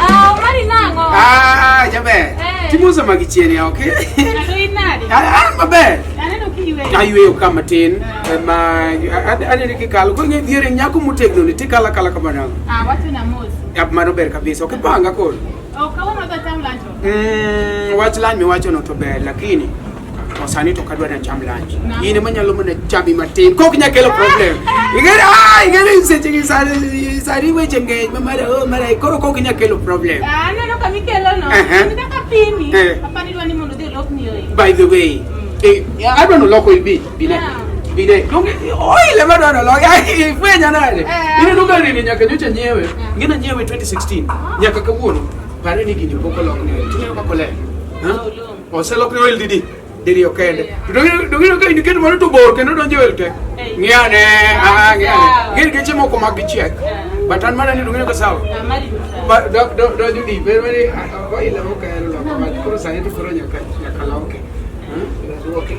Ah, mari nango. Ah, jaber. Eh. Timosa magi chien ya, okay? Kado inade. Ah, ah, maber. Aneno kiwe. Ayueyo ka matin. Eh, Ma anene kikalo. Ko ng'e dhiere nyako motegno ni tikala kala kamano. Ah, watu na mozi. Yap mano ber kabisa. Okay, panga koro. Oh, kawuono dho tam lancho. Mm, wach lany miwachono to ber lakini Wasani to kadwa na cham lunch. Yine manyalo mana chami matin. Kok nya kelo problem. Igere ah igere se chigi sari sari we chenge mara oh mara koro kok nya kelo problem. Ah no no kami kelo no. Nitaka pini. Hapa ni wani mondo de lock ni oi. By the way. Eh, I don't know lock will be. Bine. Bine. Donge oi le mara no lock. Ai fwe nya nale. Ine nunga rini nyaka nyocha nyewe. Ngina nyewe 2016. Nyaka kawuono. Pare ni gini poko lock ni. Tunyo kakole. Huh? Oselokne oil didi? Didi okende. Dogino ka indiket moro to bor kendo donjo oil tek. Ng'iyane, ah ng'iyane. Gin geche moko mag gichiek. But an mana ni dogino ka sawa. But do do do judi ber ber oil okelo lokwa. Koro sani to koro nyaka nyaka loke. Hmm? Okay.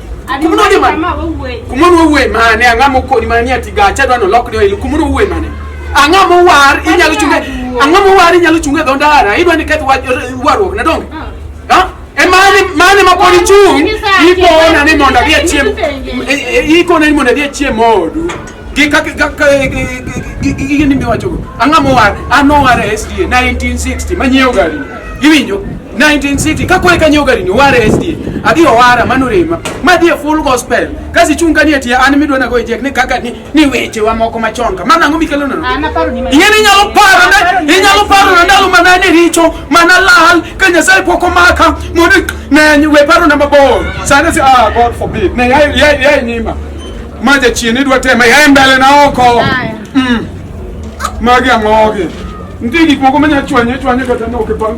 kumunu ode mane kumunu owuoye mane ang'a mokoni mane ni ati gacha dwano lokni oil kumunu owuoye mane ang'a mowar inyalo chunge ang'a mowar inyalo chunge dho ndara idwa ni keth warruok na donge ah. e mane mane ma pod ichung' ikona ni mondo adhi achiem ikona ni mondo adhi achiem odu Gi kaka kaka gigi ni miwacho go. Ang'a mowar, an owar e SDA 1960 manyiewo gari. Iwinjo? 1960 kako eka nyiewo gari ni owar e SDA. Adhi owara mano rema. Ma dhi e full gospel. Kasi chung kani e tie an midwa na go ejek ni kaka ni ni weche wa moko machon ka. Mano ang'o mikelo nono? An aparo ni Ing'e ni inyalo paro na inyalo paro na ndalo mana ni richo mana lal ka Nyasaye pok omaka mondo ne we paro na mabor. Sani si ah God forbid. Ne ya ya ya nyima. Maja chien idwa tema ya mbele na oko. Mm. Magi amogi. Ndigi koko manya chwanye chwanye kata no ke bang.